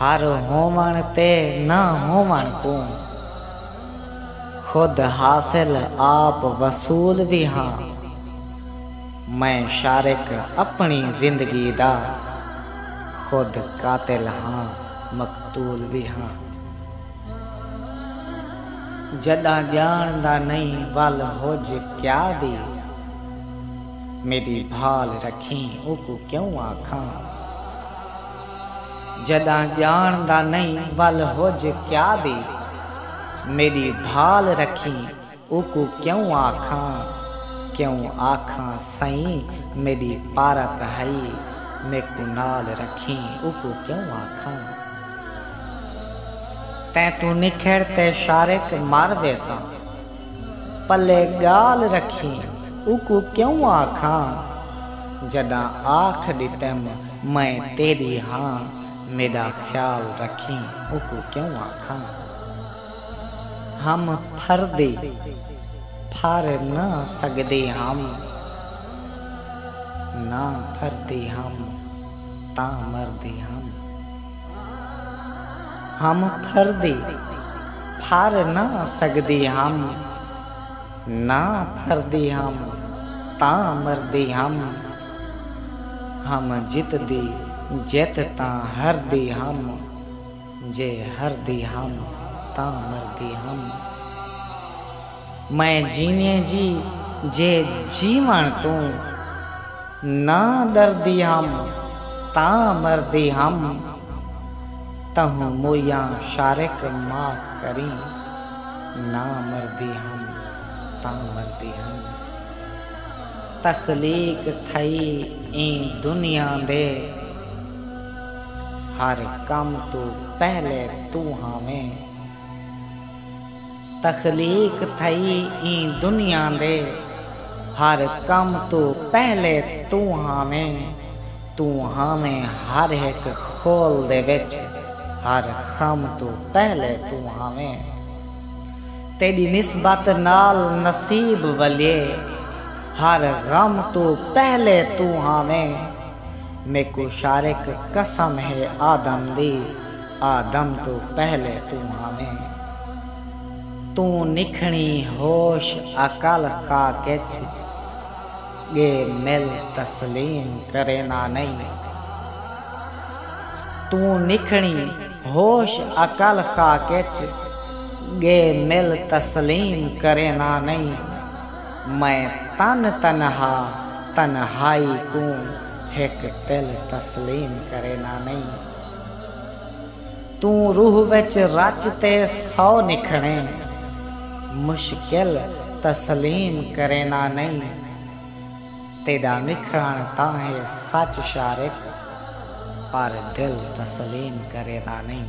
ہر ہووݨ تے نہ ہووݨ کوں خود حاصل آپ وصول وی ہاں میں شارک اپݨی زندگی دا خود قاتل ہاں مقتول وی ہاں جݙاں ڄاݨدا نئیں ول ہج کیا دی میݙی بھال رکھیں اوکوں کیوں آکھاں۔ جݙاں ڄاݨ دا نئیں ول ہج کیا دی میݙی بھال رکھیں اوکوں کیوں آکھاں کیوں آکھاں سئیں میݙی پارت ہئی میکوں نال رکھیں اوکوں کیوں آکھاں تیں توں نکھڑ تے شارق مر ویساں۔ پلے ڳالھ رکھیں اوکوں کیوں آکھاں جݙاں آکھ ݙتم میں تیݙی ہاں میݙا خیال رکھیں اوکوں کیوں آکھاں ہم پھردے پھر نہ سڳدے ہم نہ پھردے ہم تاں مردے ہم۔ ہم پھر دی پھر نہ سگدی ہم نہ پھر دی ہم تاں مر دی ہم ہم جت دی جت تاں ہر دی ہم جے ہر دی ہم تاں مر دی ہم۔ میں جینیں جی جے جیوݨ توں نہ ݙردی ہم تاں مردی ہم تہوں مویاں شارق معاف کریں نہ مردی ہم تاں مردی ہم تخلیق تھئی ایں دنیا دے ہر کم توں پہلے توں ہاویں۔ تخلیق تھئی ایں دنیا دے ہر کم توں پہلے توں ہاویں توں ہاویں ہر ہک خول دے وچ ہر خم توں پہلے توں ہاویں تیڈی نسبت نال نصیب ولیے ہر غم توں پہلے توں ہاویں میکوں شارک قسم ہے آدم دی آدم توں پہلے توں ہاویں۔ توں نکھنی ہوش عقل خاک اچ ڳے مل تسلیم کرینا نئیں۔ توں نکھنی ہوش عقل خاک اچ ڳے مل تسلیم کرینا نئیں۔ میں تن تنہا تنہائی کوں ہک تل تسلیم کرینا نئیں۔ توں روح وچ رچ تے سو نکھڑیں مشکل تسلیم کرینا نئیں تیڈا نکھڑن تاں ہے سچ شارق پر دل تسلیم کرینا نئیں۔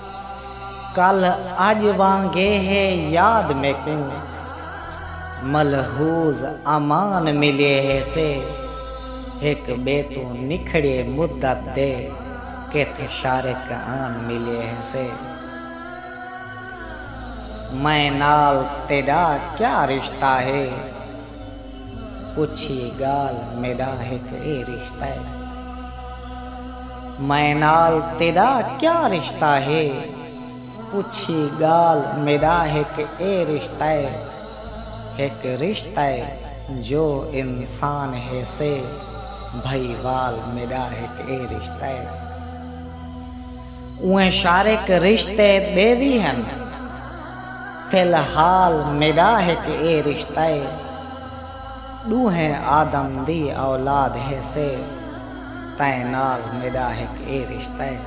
کل اڄ وانگے ہے یاد میکوں ملحوظ امان ملیے ہیسے ہک ٻے توں نکھڑیے مدت دے کتھ شارک آن ملیے ہیسے میں نال تیݙا کیا رشتہ ہے؟ پچھی گالھ میڈا ہک اے رشتہ اے میں نال تیڈا کیا رشتہ ہے پچھی گالھ میڈا ہک اے رشتہ اے ہک رشتہ اے جو انسان ہیسے بھائی وال میڈا ہک اے رشتہ اے۔ اوئیں شارک رشتے ٻئے وی ہن، فی الحال میݙا ہک اے رشتہ اے، ݙوہیں آدم دی اولاد ہیسے تئیں نال میݙا ہک اے رشتہ اے۔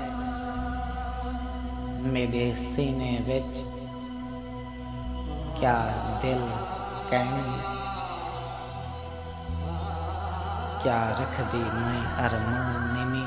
میݙے سینے وچ کیا دل کئنی، کیا رکھدی میں ارمان نینی۔